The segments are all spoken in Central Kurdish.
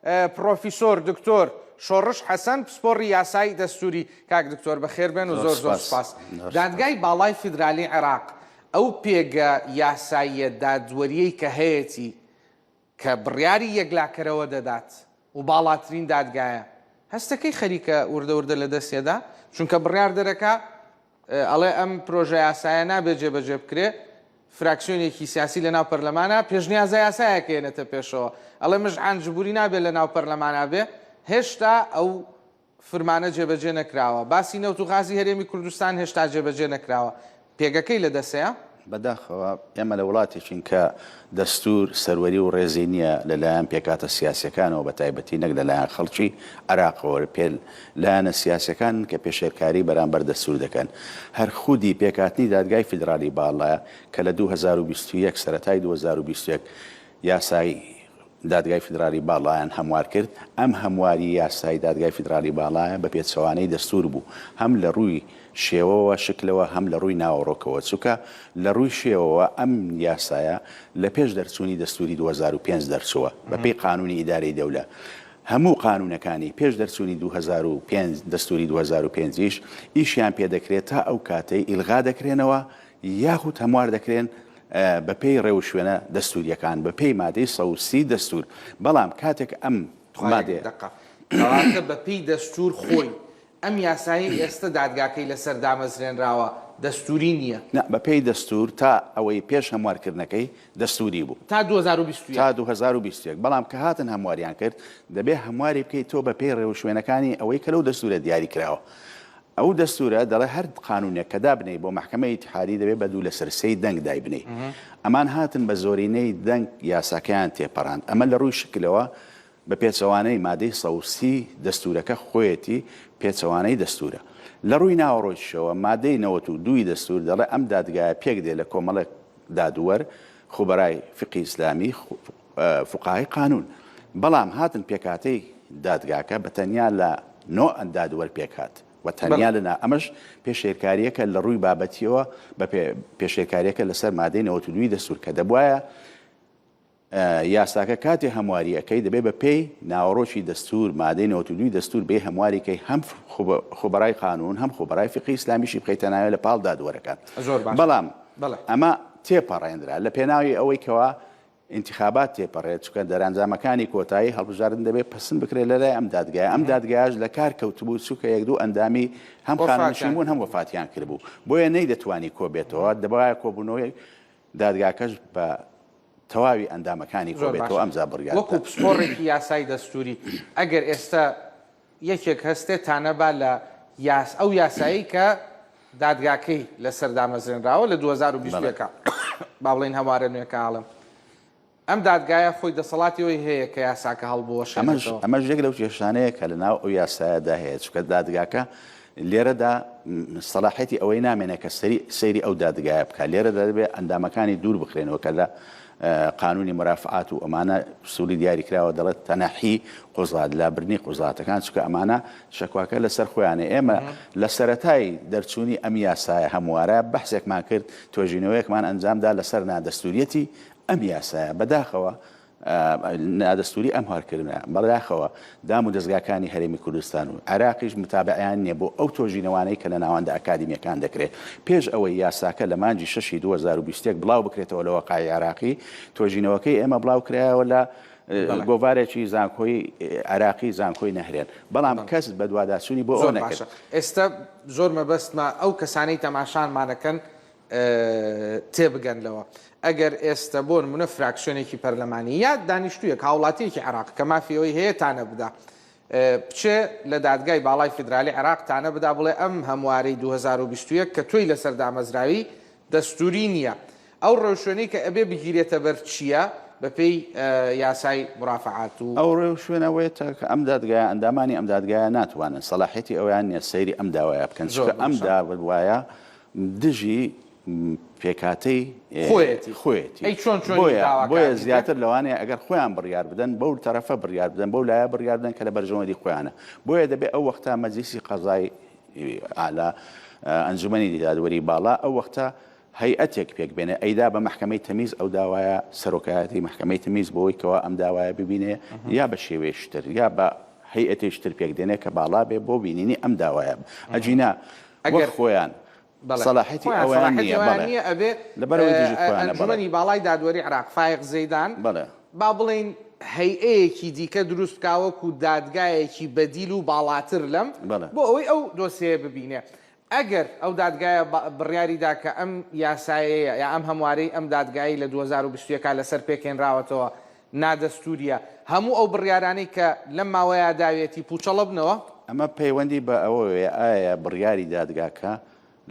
پڕۆفیسۆر دکتۆر شۆڕش حەسەن پسپۆڕی یاسای دەستووری. کاک دکتۆر بەخێربێن و زۆر زۆر سوپاس. دادگای باڵای فیدرالیی عێراق ئەو پێگە یاساییە دادوەرییەی کە هەیەتی کە بڕیاری یەکلاکەرەوە دەدات و باڵاترین دادگایە، هەستەکەی خەریکە وردە وردە لەدەست یەدا؟ چونکە بڕیاردەرەکە ئەڵێ ئەم پرۆژەیاسایە نابێ جێبەجێ بکرێ، فراکسیۆنێکی سیاسی لەناو پەرلەمانە پێشنیازە یاسایەک ئەیەنێتە پێشەوە، ئەڵێ مژعان جبوری نابێ لەناو پەرلەمانا بێ، هێشتا ئەو فرمانە جێبەجێ نەکراوە، باسی نەوت و غازی هەرێمی کوردستان هێشتا جێبەجێ نەکراوە، پێگەکەی لەدەسەیە. بەداخەوە ئێمە لە وڵاتێکین کە دەستوور سەروەری و ڕێزی نییە لەلایەن پێکهاتە سیاسییەکانەوە بەتایبەتی نەک لەلایەن خەڵکی عێراقەوە پێ لایەنە سیاسیەکانن کە پێشێلکاری بەرامبەر دەستوور دەکەن هەر خودی پێکهاتنی دادگای فیدراڵی باڵا کە لە دوو هەزار و بیست و یەک سەرەتای دوو هەزار و بیست و یەک یاسای دادگای فیدراڵی باڵایان هەموار کرد، ئەم هەمواری یاسایی دادگای فیدراڵی باڵایە بە پێچەوانەی دەستوور بوو، هەم لە ڕووی شێوەوە شکلەوە هەم لە ڕووی ناوەڕۆکەوە، چونکە لە ڕووی شێوەوە ئەم یاسایە لە پێش دەرچوونی دەستووری دوو هەزار و پێنج دەرچووە، بە پێی قانوونی ئیدارەی دەولە هەموو قانوونەکانی پێش دەرچوونی دوو هەزار و پێنج دەستووری دوو هەزار و پێنج یش ئیشیان پێ دەکرێت تا ئەو کاتەی ئیلغا دەکرێنەوە یاخود هەموار دەکرێن بە پێی ڕێوشوێنە دەستوورییەکان، بە پێی مادەی سەد و سی دەستوور، بەڵام کاتێک ئەم مادەیە. دەقە. کەواتە بە پێی دەستوور خۆی، ئەم یاسایەی ئێستە دادگاکەی لە سەر دامەزرێنراوە، دەستووری نییە؟ نا، بە پێی دەستوور تا ئەوەی پێش هەموارکردنەکەی دەستووری بوو. تا دوو هەزار و بیست و یەک. تا دوو هەزار و بیست و یەک، بەڵام کە هاتن هەمواریان کرد، دەبێ هەمواری بکەی تۆ بە پێی ڕێوشوێنەکانی ئەوەی کە لەو دەستوورە دیاری کراوە. ئەو دەستورە دەڵێ هەر قانونێک کە دابنێی بۆ مەحکەمەی ئیتحادی دەبێ بە دوو لەسەر سێی دەنگ دایبنێی. ئەمان هاتن بە زۆرینەی دەنگ یاساکەیان تێپەراند. ئەمە لە رووی شکلەوە بە پێچەوانەی مادەی سەد و سی دەستورەکە خۆیەتی، پێچەوانەی دەستورە. لە رووی ناوەڕۆکیشەوە مادەی نەوەت و دوو ی دەستور دەڵێ ئەم دادگایە پێکدێ لە کۆمەڵێک دادوەر، خوبرای فقهی ئیسلامی، فوقەهای قانون، بەڵام هاتن پێکهاتەی دادگاکە بە تەنیا لە نۆ دادوەر پێکهات و تەنیا لە نا ئەمەش پێشێلکارییەکە لە ڕووی بابەتیەوە بە پێشێلکارییەکە لەسەر مادەی نەوەت و دووی دەستور کە دەبواە یاساکە کاتێ هەمواریەکەی دەبێت بە پێی ناوەڕۆکی دەستور مادەی نەوەت و دووی دەستور بێ هەمواریکەی هەم خۆبەرای قانون هەم خۆبەرای فقی ئسلامیشی بخیتە ناوێت لە پاڵ دادوەرەکان بەڵام ئەمە تێپەڕێنرا لە پێناوی ئەوەی کەوا ئینتیخابات تێپەڕێت، چونکە دەرئەنجامەکانی کۆتایی هەڵبژاردن دەبێت پەسند بکرێت لەلای ئەم دادگایە، ئەم دادگایەش لە کار کەوتبوو، چونکە یەک دوو ئەندامی هەم خانەنشین بوون هەم وەفاتیان کردبوو، بۆیە نەیدەتوانی کۆبێتەوە، دەبوایە کۆبوونەوەی دادگاکەش بە تەواوی ئەندامەکانی کۆبێتەوە، ئەمجا بڕیار بدات. زۆر باشە، وەکو پسپۆڕێکی یاسای دەستووری، ئەگەر ئێستا یەکێک هەستێ تا نەبا لە یاس ئەو یاسایەی کە دادگاکەی لەسەر دامەزرێنراوە لە دوو هەزار و بیست و یەک با بڵێین هەموارە نوێکە ئاڵم ئەم دادگایە خۆی دەسەڵاتی ئەوی هەیە کە یاساکە هەڵبوەشێنێتەوە. ئەمەش ئەمەش یەک لەو کێشانەیە کە لە ناو ئەو یاسایەدا هەیە چونکە دادگاکە لێرەدا سەلاحیەتی ئەوەی نامێنێ کە سەیری ئەو دادگایە بکە لێرەدا دەبێت ئەندامەکانی دوور بخرێنەوە کە لە قانونی مرافعات و ئەمانە سووری دیاری کراوە دەڵێت تەنەحی قوزات لابرنی قوزاتەکان چکە ئەمانە شکواکە لەسەر خۆیانە ئێمە لە سەتای دەرچوونی ئەم یاسایە هەموارە بەحسێکمان کرد توێژینەوەیەکمان ئەنجامدا لەسەر نادەستوریەتی ئەم یاسایە بەداخەوە نادەستوری ئەم هارکردنە بەداخەوە دام و دەزگاکانی هەرێمی کوردستان و عراقیش متابعیان نیە بۆ ئەو تۆژینەوانەی کە لە ناوەندە ئەکادیمیەکان دەکرێت پێش ئەوەی یاساکە لە مانجی شەشی 2021 بڵاو بکرێتەوە لە وەقای عراقی تۆژینەوەکەی ئێمە بڵاو کرایەوە لە گۆڤارێکی زانکۆی عراقی زانکۆی نەهرێن بەڵام کەس بەدواداچوونی بۆ ئەو نەکرد ئێستا زۆر مەبەستمە ئەو کەسانەی تەماشانمانەکەن تێبگەن لەوە ئەگەر ئێستە بۆن منە فراکسیۆنێکی پەرلەمانی یا دانیشتویەک هاوڵاتیەکی عراق کە مافی ئەوی هەیە تانە بدا بچێ لە دادگای باڵای فیدرالی عراق تانە بدا بڵێ ئەم هەموارەی 2021 کە تۆی لەسەر دامەزراوی دەستوری نییە ئەو ڕێوشوێنەی کە ئەبێ بگیرێتە بەر چییە بەپێی یاسای مرافعات و ئەو ڕێ و شوێنەوەیە کە ئەم دادگایە ئەندامانی ئەم دادگایە ناتوانن سەلاحێتی ئەویان نیە سەیری ئەم داوایە بکەن چکە ئەم داوایە دژی پێکهاتەی خۆیەتی خۆیەتی ئەی چۆن چۆنی بۆیە داواکاری بۆیە دەکەن؟ زیاتر لەوانەیە ئەگەر خۆیان بڕیار بدەن بەو تەرەفە بڕیار بدەن بەو لایە بڕیار بدەن کە لە بەرژەوەندی خۆیانە بۆیە دەبێت ئەو وەختە مەجلیسی قەزای ئالا اه، ئەنجومەنی دادوەری باڵا ئەو وەختە هەیئەتێک پێک بێنێ ئەیدا بە محکمەی تەمیز ئەو داوایە سەرۆکایەتی محکمەی تەمیز بۆی کەوا ئەم داوایە ببینێ یا بە شێوەی شتر یا بە هەیئەتێکی تر پێک دێنێ کە باڵا بێ بۆ بینینی ئەم داوایە ئەجینا وەک خۆیان سەلاحیەتی ئەوەیان نییە بەڵێ لەبەرئەوەی دژی خۆیانە بەڵێ. ئەنجومەنی باڵای دادوەری عێراق فایق زەیدان با بڵێین هەیئەیەکی دیکە دروست بکا وەکو دادگایەکی بەدیل و باڵاتر لەم بۆ ئەوەی ئەو دۆسێیە ببینێ ئەگەر ئەو دادگایە بڕیاری دا کە ئەم یاسایەیە یا ئەم هەموارەی ئەم دادگایەی لە دوو هەزار و بیست و یەک لەسەر پێکێنراوەتەوە نادەستوورییە هەموو ئەو بڕیارانەی کە لەم ماوەیە داویەتی پووچەڵە بنەوە. ئەمە پەیوەندی بە ئەوەوەیە ئایا بڕیاری دادگاکە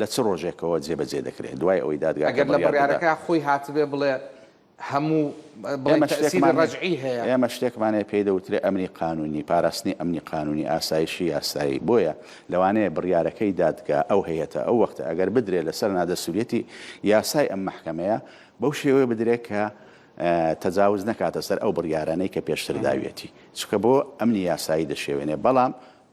لە چ ڕۆژێکەوە جێبەجێ دەکرێت دوای ئەوەی دادگاکە ئەگەر لە بڕیار دەدات. بڕیارەکە خۆی هاتبێ بڵێ هەموو بڵێ ئێمە تەئسیری شتێکمان ڕەجعی هەیە. هەیە. ئێمە شتێکمان هەیە پێی دەوترێ ئەمنی قانوونی، پاراستنی ئەمنی قانوونی، ئاسایشی یاسایی. بۆیە لەوانەیە بڕیارەکەی دادگا، ئەو هەیئەتە، ئەو وەختە ئەگەر بدرێ لەسەر نادەستووریەتی یاسای ئەم مەحکەمەیە بەو شێوەیە بدرێ کە تەجاوز نەکاتە سەر ئەو بڕیارانەی کە پێشتر داویەتی، چونکە بۆ ئەمنی یاسایی دەشێوێنێ، بەڵام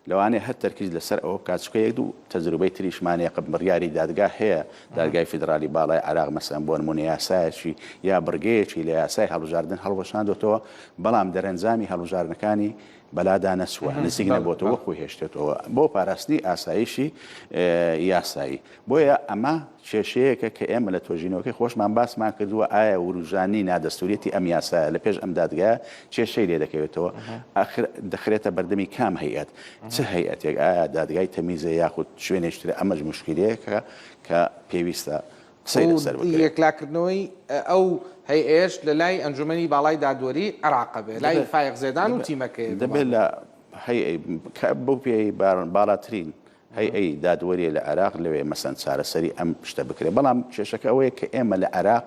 لەوانەیە هەر تەرکیز لەسەر ئەوە بکات، چونکە یەک دوو تەجروبەی تریشمان هەیە کە بڕیاری دادگا هەیە، دادگای فیدراڵی باڵای عێراق مەسەلەن بۆ نموونە یاسایەکی یا بڕگەیەکی لە یاسای هەڵبژاردن هەڵوەشاندۆتەوە، بەڵام دەرەنجامی هەڵبژاردنەکانی بەلا دانەسوە نزیک نەبۆتەوە و خۆی هێشتێتەوە بۆ پاراستنی ئاسایشی یاسایی بۆیە ئەمە کێشەیەکە کە ئێمە لە تۆژینەوەکەی خۆشمان باسمان کردووە ئایا وروژانی نادەستوریەتی ئەم یاسایە لە پێش ئەم دادگە کێشەی لێ دەکەوێتەوە ئاخر دەخرێتە بەردەمی کام هەیەت چ هەیەتێک ئایا دادگای تەمیزە یاخود شوێنێشترە ئەمەش مشکلەیەکە کە پێویستە سەیرە سەر بکەوێت. یەکلاکردنەوەی ئەو هەیئەیەش لە لای ئەنجومەنی باڵای دادوەریی عێراق بێت، لای فایق زێدان و تیمەکەی. دەبێت لە هەیئەی، کە بەو پێیەی باڵاترین هەیئەی دادوەرییە لە عێراق، لەوێ مەسەن چارەسەری ئەم شتە بکرێت. بەڵام کێشەکە ئەوەیە کە ئێمە لە عێراق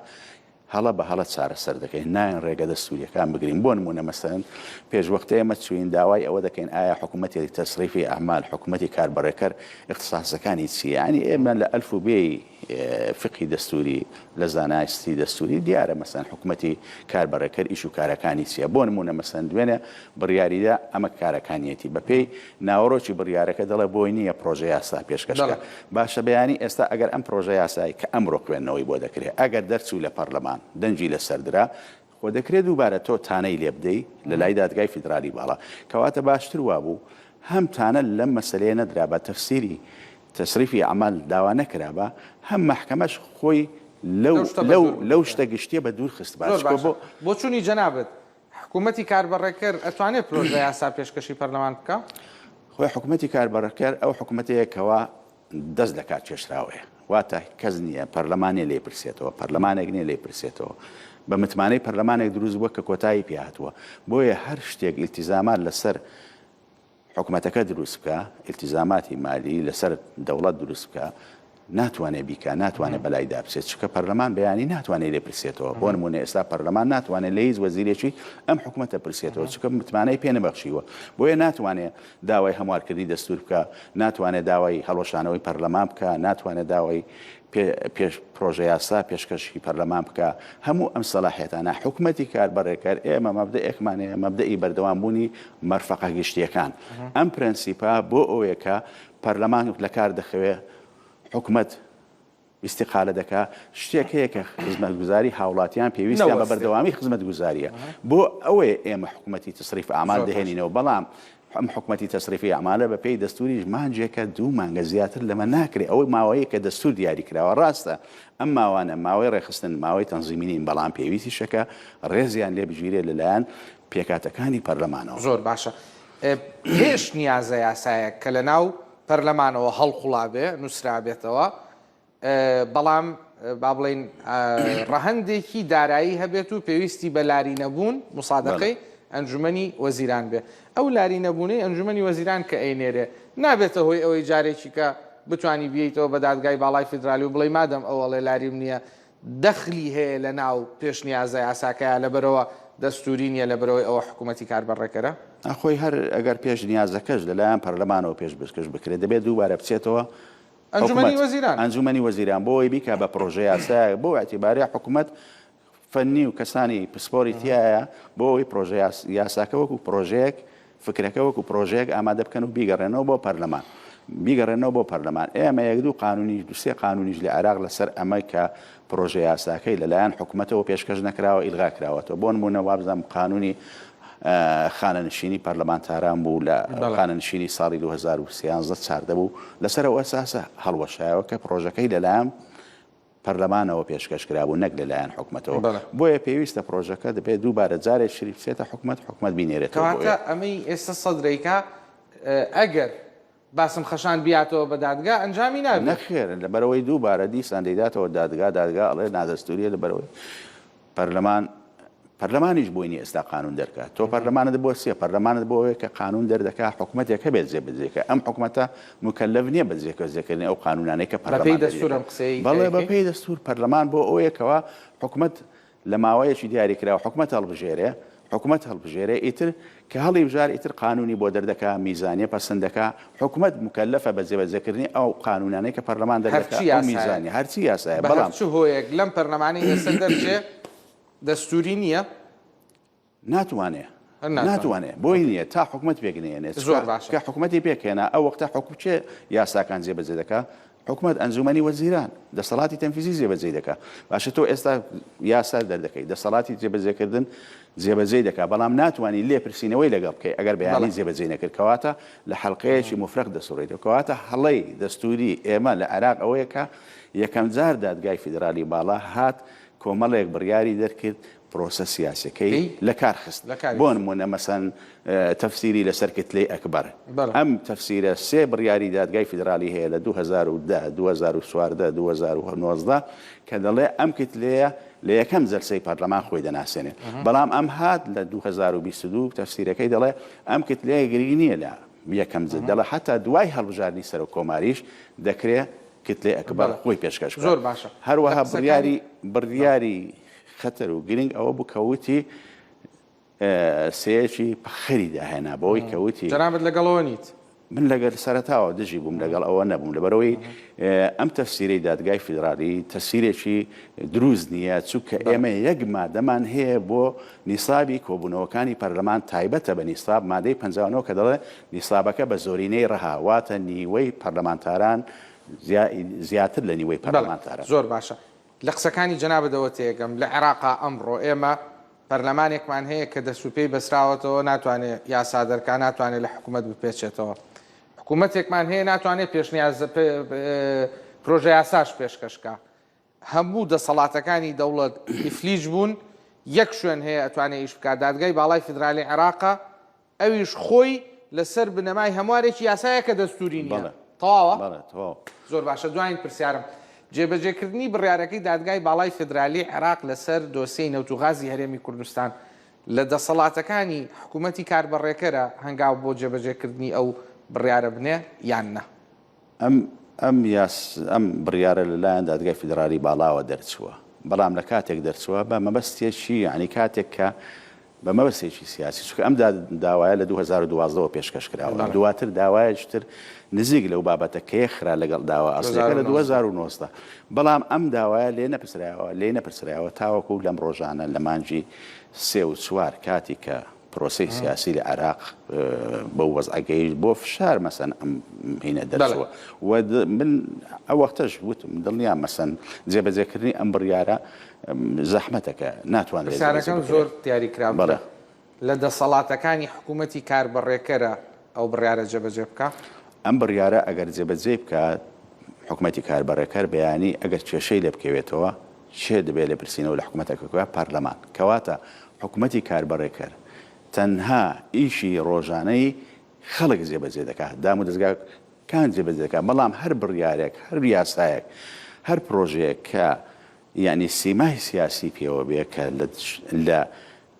هەڵە بە هەڵە چارەسەر دەکەین، نایەن ڕێگە دەستوورییەکان بگرین، بۆ نموونە مەسەلەن پێش وەخت ئێمە چووین داوای ئەوە دەکەین ئایا حکومەتی تەسریفی ئەعمال، حکومەتی کاربەڕێکەر ئیختساسەکانی چییە؟ یەعنی ئێمە لە ئەلف و بێی فیقهی دەستووری، لە زاناستی دەستووری دیارە مەسەلەن حکومەتی کاربەڕێکەر ئیش و کارەکانی چییە؟ بۆ نموونە مەسەلەن دوێنێ بڕیاریدا ئەمە کارەکانیەتی بەپێی ناوەرۆکی بڕیارەکە دەڵێت بۆی نییە پڕۆژەیاسا پێشکەش بکات. باشە بەیانی ئێستا ئەگەر ئەم پڕۆژەیاسای کە ئەمرۆ خوێندنەوەی بۆ دەکرێت ئەگەر دەرچوو لە پەرلەمان دەنگی لەسەردرا، خۆ دەکرێت دووبارە تۆ تانەی لێ بدەی لەلای دادگای فیدرالی باڵا. کەواتە باشتر وابوو هەم تانە لەم مەسەلەیە نەدرابا تەفسیری، تصریف اعمال، داوا نەکرابا، هەم مەحکەمەش خۆی لەو لەو لەو شتە گشتییە بە دوور خستبا. زۆر باشە بۆچوونی جەنابت حکومەتی کاربەڕێکەر ئەتوانێت پرۆژە یاسا پێشکەشی پەرلەمان بکا؟ خۆی حکومەتی کاربەڕێکەر ئەو حکومەتەیە کەوا دەست لە کار کێشراوەیە واتە کەس نییە پەرلەمانێ لێ پرسێتەوە پەرلەمانێک نیە لێ پرسێتەوە بە متمانەی پەرلەمانێک دروست بووە کە کۆتایی پێهاتووە بۆیە هەر شتێک ئیلتیزامات لەسەر حکومەتەکە دروست بکە ئیلتیزاماتی مالی لەسەر دەوڵەت دروست بکە ناتوانێت بیکە ناتوانێت بەلای دابچێت چکە پەرلەمان بەیانی ناتوانێت لێ پرسێتەوە بۆ نمونە ئێستا پەرلەمان ناتوانێت لە هیچ وەزیرێکی ئەم حکوومەتە پرسێتەوە چکە متمانەی پێ نەبەخشیوە بۆیە ناتوانێت داوای هەموارکردنی دەستور بکە ناتوانێت داوای هەڵۆشانەوەی پەرلەمان بکە ناتوانێت داوای پێش پرۆژەیاسا پێشکەشی پەرلەمان بکا هەموو ئەم سەلاحێتانە حکوومەتی کاربەڕێکەر ئێمە مەبدەئێکمان هەیە مەبدەئی بەردەوام بوونی مەرفەقە گشتیەکان ئەم پرەنسیپا بۆ ئەوەیەکە پەرلەمان لە کار دەخەوێ حکوومەت ئیسیقالە دەکا شتێک هەیە کە خزمەت گوزاری هاوڵاتیان پێویستیان بە بەردەوامی خزمەت گوزاریە بۆ ئەوەیە ئێمە حکوومەتی تسریف ئامال دەهێنینەوە بەڵام ئەم حکومەتی تەسریفی ئەعمالە بە پێی دەستوریش مانجێکە دوو مانگە زیاتر لەمە ناکرێ ئەوەی ماوەیە کە دەستور دیاری کراوە راستە ئەم ماوانە ماوەی رێخستن ماوەی تەنزیمی نین بەڵام پێویستیشە کە رێزیان لێ بگیرێ لە لایەن پێکهاتەکانی پەرلەمانەوە. زۆر باشە پێش نیازە یاسایەک کە لە ناو پەرلەمانەوە هەڵقوڵابێ نوسرابێتەوە بەڵام با بڵێین ڕەهەندێکی دارایی هەبێت و پێویستی بە لاری نەبوون مسادەقەی ئەنجومی وەزیران بێ ئەو لاری نەبوونەی ئەنجومی وەزیران کە ئەینێرێ نابێتە هۆی ئەوەی جارێکی کە بتانی بیتەوە بە دادگای باڵای فیدرالی و بڵی مادەم ئەوەڵێ لاریم نییە دەخلی هەیە لە ناو پێشنیازە یاساکەیە لەبەرەوە دەستوری نیە لە برەوەی ئەوە حکوومەتتی کار بەڕێکەرە ئەخۆی هەر ئەگەر پێش نیازەکەش لەلایەن پەرلەمانەوە پێش بستکەش بکرێت دەبێت دووبارە بچێتەوە ئەنجومەنی حکومەت، وەزیران. ئەنجومەنی وەزیران بۆ ئەوەی بیکا بە پرۆژە یاسایەک بۆ ئیعتیباری حکومەت فەنی و کەسانی پسپۆری تیایە بۆ ئەوەی پرۆژە یاس یاساکە وەکو پرۆژەیەک فکرەکە وەکو پرۆژەیەک ئامادە بکەن و بیگەڕێنەوە بۆ پەرلەمان بیگەڕێنەوە بۆ پەرلەمان ئێمە یەک دوو قانونیش دوو سێ قانونیش لە عێراق لەسەر ئەمەی کە پرۆژە یاساکەی لەلایەن حکومەتەوە پێشکەش نەکراوە ئیلغا کراوەتەوە بۆنمونە وابزانم قانونی خانەنشینی پەرلەمانتاران بوو لە خانەنشینی ساڵی 2013 چاردە بوو لەسەر ئەو ئەساسە هەڵوەشایەوە کە پرۆژەکەی لەلایەن پەرلەمانەوە پێشکەش کرابوو نەک لەلایەن حکومەتەوە بۆیە پێویستە پرۆژەکە دەبێت دووبارە جارێ شری بچێتە حکومت حکومت بینێرێتەوە ئەمەی ئێستا سەدرێکا ئەگەر باسم خەشان بیاتەوە بە دادگا ئەنجامی نابێت. نەخێر لەبەرئەوەی دووبارە دیسان دەیداتەوە دادگا، دادگا ئەڵێ نادەستووریە لەبەرئەوەی پەرلەمان پەرلەمانیش بۆی نیە ئێستا قانوون دەرکات، تۆ پەرلەمانت بۆ چیە؟ پەرلەمانت بۆ ئەوەیە کە قانوون دەردەکات حکومەتێک هەبێت جێبەجێ کە ئەم حکومەتە موکەلەف نیە بە جێبەجێکردنی ئەو قانوونانەی کە پەرلەمان دەریدەکات. بەڵێ بەپێی دەستوور پەرلەمان بۆ ئەوەیە کەوا حکومەت لە ماوەیەکی دیاریکراو حکومەت هەڵبژێرێ، حکومەت هەڵبژێرێ، ئیتر کە هەڵیبژار ئیتر قانوونی بۆ دەردەکا، میزانیە پەسند دەکا، حکومەت موکەلەفە بە جێبەجێکردنی ئەو قانوونانەی کە پەرلەمان دەردەکا، ئەو میزانیە هەرچی یاسایە، بەڵام. بە هەر چ هۆیەک لەم پەرلەمانەی ئێستا دەرچێ دەستووری نییە، ناتوانێ ناتوانێ بۆی نیە تا حکومەت پێکنێنێ زۆر باش کە حکومەتی پێکێنا ئەو وەختە حکوم چێ یاساکان جێبەجێ دەکە حکومەت ئەنجومەنی وەزیران دەسەڵاتی تەنفیزی جێبەجێ دەکە باشە تۆ ئێستا یاسا دەردەکەی دەسەڵاتی جێبەجێکردن جێبەجێ دەکا بەڵام ناتوانانی لێپرسینەوەی لەگەڵ بکەی ئەگەر بەیانی جێبەجێ نەکرد کەواتە لە حلقەیەکی مفرەق دەسوڕێتەوە کەواتە هەڵەی دەستوری ئێمە لە عێراق ئەوەیە کە یەکەم جار دادگای فیدرالی باڵا هات کۆمەڵێک بڕیاری دەرکرد پرۆسە سیاسیەکەی لەکار خست بۆنمونە مەسەن تەفسیری لەسەر کتلەی ئەکبەر ئەم تەفسیرە سێ بڕیاری دادگای فیدرالی هەیە لە دوو هەزار و دە دوو هەزار و چواردە دوو هەزار و نۆزدە کە دەڵێ ئەم کتلەیە لە یەکەم جەلسەی پەرلەمان خۆی دەناسێنێت بەڵام ئەم هات لە دوو هەزار و بیست و دوو تەفسیرەکەی دەڵێ ئەم کتلەیە گرنگ نییە لە یەکەم جل دەڵێ حەتا دوای هەڵبژاردنی سەرۆک کۆماریش دەکرێ کتلەی ئەکبەر خۆی پێشکەش بکات زۆر باشە هەروەها بڕیاری بڕیاری خەتەر و گرنگ ئەوە بوو کە وتی سەیەکی پەخەری داهێنا بەوەی کە وتی جەنابەت لەگەڵەوە نیت من لەگەر سەرتاوە دژی بووم لەگەڵ ئەوە نەبووم لەبەرەوەی ئەم تەفسیرەی دادگای فیدراالی تەسیرێکی دروست نییە چونکە ئێمە یەک مادەمان هەیە بۆ نیسابی کۆبوونەوەکانی پەرلەمان تایبەتە بە نیساب مادەی پنجانەوە کە دەڵێ نیسابەکە بە زۆرینەی ڕەهاواتە نیوەی پەرلەمانتاران زیاتر لە نیوەی پەرلەمانتارە زۆر باشە لە قسەکانی جەنابتەوە تێگەم، لە عێراقا ئەمڕۆ ئێمە پەرلەمانێکمان هەیە کە دەست و پێی بەسراوەتەوە ناتوانێ یاسا دەرکا، ناتوانێ لە حکوومەت بپێچێتەوە. حکوومەتێکمان هەیە ناتوانێ پێشنیاز پرۆژە یاساش پێشکەش کا. هەموو دەسەڵاتەکانی دەوڵەت ئیفلیج بوون، یەک شوێن هەیە ئەتوانێ ئیش بکا، دادگای باڵای فیدرالی عێراقە، ئەویش خۆی لە سەر بنەمای هەموارێکی یاسایە کە دەستووری نییە. بەڵێ. تەواوە؟ بەڵێ تەواوە. زۆر باشە، دوایین پرسیارم، جێبەجێکردنی بڕیارەکەی دادگای باڵای فیدرالیی عێراق لە سەر دۆسیەی نەوت و غازی هەرێمی کوردستان لە دەسەڵاتەکانی حکوومەتی کاربەڕێکەرە هەنگاو بۆ جێبەجێکردنی ئەو بڕیارە بنێ یان نە؟ ئەم ئەم بڕیارە لە لایەن دادگای فیدراڵی باڵاوە دەرچووە، بەڵام لە کاتێک دەرچووە بە مەبەستێکی یانی کاتێک کە بە مەبەستێکی سیاسی چونکە ئەم داوایە لە دوو هەزار و دوازدە وە پێشکەش کراوە، دواتر داوایەکی تر نزیک لەو بابەتە کە یەکخرا لەگەڵ داوا ئەسڵەکە لە دوو هەزار و نۆزدە، بەڵام ئەم داوایە لێ نەپرسراوە لێی نەپرسراوە تاوەکو لەم ڕۆژانە لە مانگی سێ و چوار کاتی کە پرۆسەی سیاسی لە عێراق بەو وەزعە گەیشت بۆ فشار مەسەن ئەم هینە دەرچووە و من ئەو وەختەش وتم دڵنیا مەسەن جێبەجێکردنی ئەم بڕیارە زەحمەتەکە ناتوانێت پرسیارەکەم زۆر دیاریکراوە لە دەسەڵاتەکانی حکوومەتی کاربەڕێکەرە ئەو بڕیارە جێبەجێ بکا؟ ئەم بڕیارە ئەگەر جێبەجێ بکات حکوومەتی کاربەڕێکەر بەیانی ئەگەر کێشەی لێ بکەوێتەوە کێ دەبێت لێپرسینەوە لە حکومەتەکە بکات؟ پارلەمان. کەواتە حکومەتی کاربەڕێکەر تەنها ئیشی ڕۆژانەی خەڵک جێبەجێ دەکات، دامودەزگا کان جێبەجێ دەکات، بەڵام هەر بڕیارێک، هەر یاسایەک، هەر پرۆژەیەک کە یانی سیمای سیاسی پێوە بێ کە لە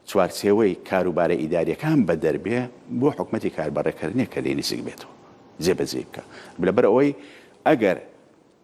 چوارچێوەی کاروبارە ئیداریەکان بەدەر بێ بۆ حکومەتی کاربەڕێکەر نیە کە لێی نزیک بێتەوە جێبەجێی بکات لەبەر ئەوەی ئەگەر